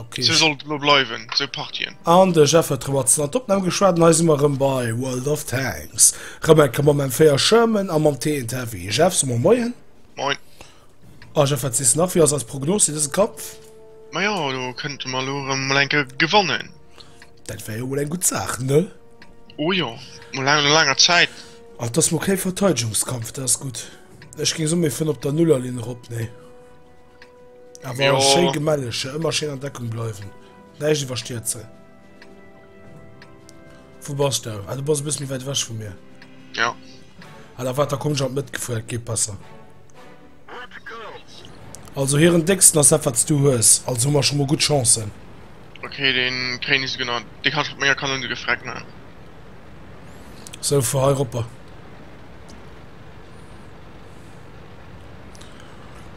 Okay. Sou soll et elo bleiwen, sou Partien. An de Jeff huet rëm mat an d'Opnam geschwat an hei si mer rëm bei World of Tanks. Rëm eng Kéier mat mengem Véier Sherman a mam TNT Heavy. Jeff, soe mer Moien. Moin. A Jeff, wat sees de nach, wéi ass eis Prognos fir dëse Kampf? Ma jo, do kënnte mer elo erëm mol eng Kéier gewannen. Dat wär jo mol eng gutt Saach, ne? O jo, mol laang no laanger Zäit. An et ass mol kee Verteidegungskampf, dat ass gutt. Ech géing soen, mir fëllen op der Nullerlinn erop, nee? Awer schéi gemelleg, ëmmer schéin an Deckung bleiwen. Näischt iwwerstierze. Wou bass du? Ah, du bass e bësse méi wäit ewech vu mir. Ja. Ah, da wat, da komm ech an d'Mëttgefuer, dat geet besser. Also hiren décksten ass dat, wat du hues. Also hu mer scho mol gutt Chancen. Okay, den kréien is genau. De kannst mat menger Kanone de Freck man. So, fuer hei ropper.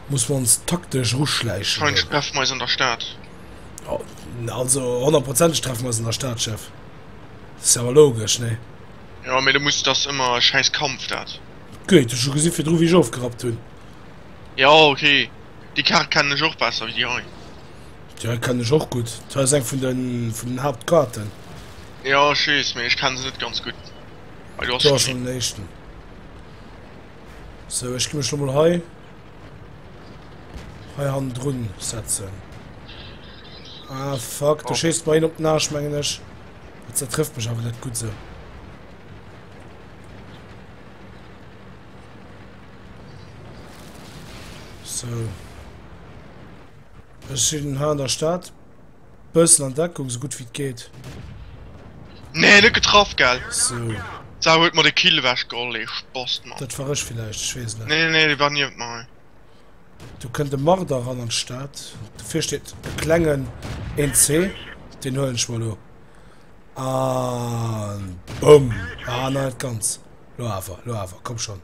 Muss mer ons taktesch eruschläichen. Scheinsch treffen mer eis an der Stad. Also honnertprozenteg treffen mer eis an der Stad, Chef. Dat ass jo awer logesch, nee? Jo, mee du muss, dat ass ëmmer e schäiss Kampf, dat. Gutt, hues scho gesi virdru wéi ech ofgerappt hunn? Jo, ok. Déi Kaart kennen ech och besser wéi déi hei. Déi kennen ech och gutt. Dat hei ass eng vun den, vun den Haaptkaarten. Jo, ech weess, mee ech kenne se net ganz gutt. Hei, du hass schonn een. Hei, du hass schonn den éischten. So ech gi mech lo mol hei hei han drun setzen. Ah fuck, du schießt bei hin op den Arsch mengen ech. Dat zertrifft mech awer net gut se. So. So. Ech sinn ha an der Stad. Bëssen an Deckung sou gutt wéi et geet. Nee net getraff gell. Sou. D'Sau huet mer de Kill ewech geholl ee Spast Mann. Dat war ech villäicht, ech weess et net. Nee nee dee war niewent mer. Do kënnt e Marder eran an d'Stad. Dofir steet e klengen NC. Deen huelen ech mer elo. An. Boum! Ah nei net ganz. Lo awer, lo awer, komm schonn.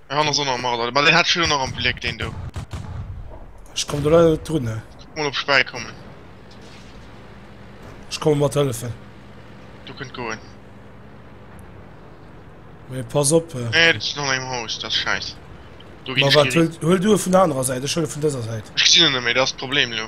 Hei han ass och nach am Marder, ma deen hat ech elo nach am Bléck, deen do. Ech komm do leider net drun, ne. Kuck mol op ech bäi kommen. Ech komme mat hëllefen. Do kënnt goen. Mee pass op. Nee, dat ass nach engem Haus, dat ass schäiss. Do ginn ech. Ma wat, huel, huel du e vun der anerer Säit, ech huele vun dëser Säit. Ech gesinn en net méi, dat ass d'Problem elo.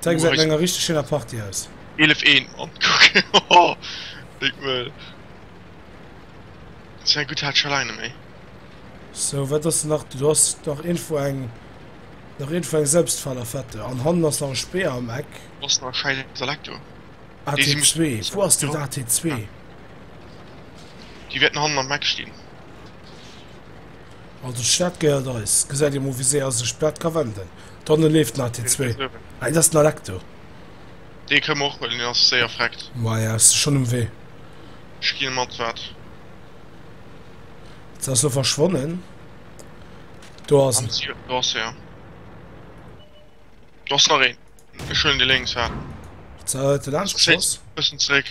Zeig se enger richteg schéiner Party aus. 11 1 Mann Big Möl Sou gudd hat scho laang net méi. Sou wat ass nach do ass nach info eng nach info eng selbstfaler fette an hannen ass nach e speer am eck ass nach schein selektor at2 wo ass den at2 die werden hannen am mac stinn also staat geiert eis gesäit dir mo wie se as sech platt ka wenden D'Anne leeft nach, déi zwee. Hei, dat ass den Alecto. Dee kënne mer och huelen, deen ass séier freckt. Maja, ass de schonn um Wee? Ech ginn mat, wat? Se ass elo verschwonnen. Do ass en. Do ass e. Do ass nach een. Ech huelen dee lénks, wat? Huet se laanscht geschoss? Bëssen zeréck.